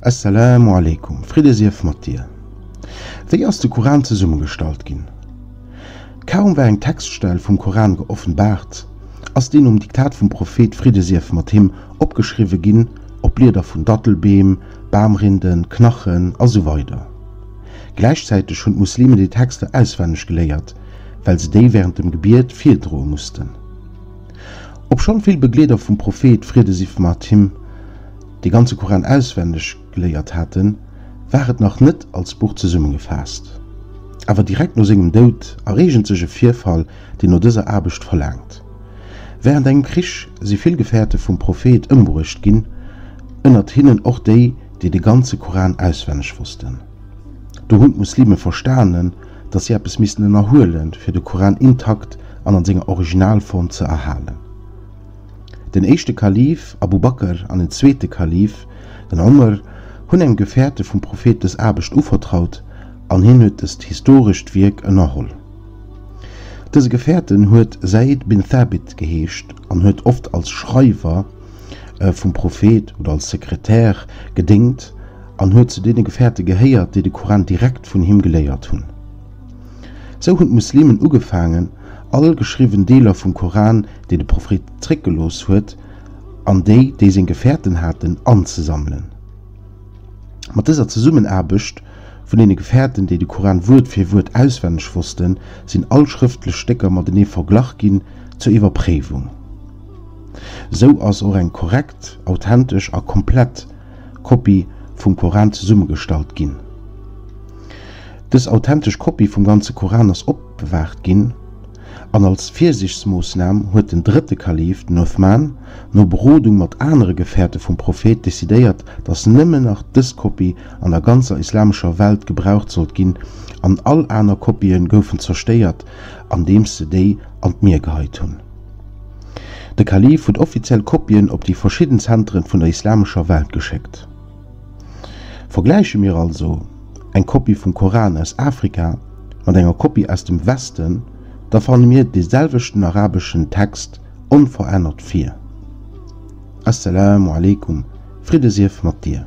Esselamu aleykum, Fridde sief mat dir! Wéi ass de Koran zesummegestallt ginn? Kaum war eng Textstell vum Koran geoffenbaart, ass deen nom Diktat vum Prophet, Fridde sief mat him, opgeschriwwe ginn op Blieder vun Dattelbeem, Bamrinden, Knachen a sou weider. Gläichzäiteg hunn d'Muslimen déi Texter auswenneg geléiert, well se déi wärend dem Gebiet virdroe mussten. Obschonn vill Begleeder vum Prophet, Fridde sief mat him, de ganze Koran auswenneg geléiert haten, war et nach net als Buch zesummegefaasst. Awer direkt no sengem Doud erreegent sech e Virfall, deen no dëser Aarbecht verlaangt. Wärend engem Krich si vill Gefäerte vum Prophet ëmbruecht ginn, ënnert hinnen och déi, déi de ganze Koran auswenneg wossten. Do hunn d'Muslime verstanen, dass si eppes missten ënnerhuelen, fir de Koran intakt an an senger Originalform ze erhalen. Den éischte Kalif, Abu Bakr, an den zweete Kalif, den Omr, hunn engem Gefäerte vum Prophet dës Aarbecht uvertraut an hien huet dëst historescht Wierk ënnerholl. Dëse Gefäerten huet Zayd bin Thabit geheescht an huet oft als Schreiwer vum Prophet oder als Sekretär gedéngt an huet zu deene Gefäerte gehéiert, déi de Koran direkt vun him geléiert hunn. Sou hunn d'Muslimen ugefaangen, all geschriwwen Deeler vum Koran, déi de Prophet zréckgelooss huet, an déi, déi seng Gefäerten haten, anzesammelen. Mat dëser Zesummenaarbecht vun deene Gefäerten, déi de Koran Wuert fir Wuert auswenneg wossten, sinn all schrëftlech Stécker matenee verglach ginn zur Iwwerpréiwung. Sou ass och eng korrekt, authentesch a komplett Kopie vum Koran zesummegestallt ginn. Dës authentesch Kopie vum ganze Koran ass opbewaacht ginn, an als Virsiichtsmoossnam huet den drëtte Kalif, den Uthman, no Berodung mat anere Gefäerte vum Prophet, decidéiert, datt nëmmen nach dës Kopie an der ganzer islamescher Welt gebraucht sollt ginn, an all aner Kopie goufen zerstéiert, andeems se déi an d'Mier geheit hunn. De Kalif huet offiziell Kopien op déi verschidden Zenteren vun der islamescher Welt geschéckt. Vergläiche mir also eng Kopie vum Koran aus Afrika mat enger Kopie aus dem Westen, da fanne mir dee selwechten arabeschen Text onverännert vir. As-Salaamu Alaikum, Fridde sief mat dir!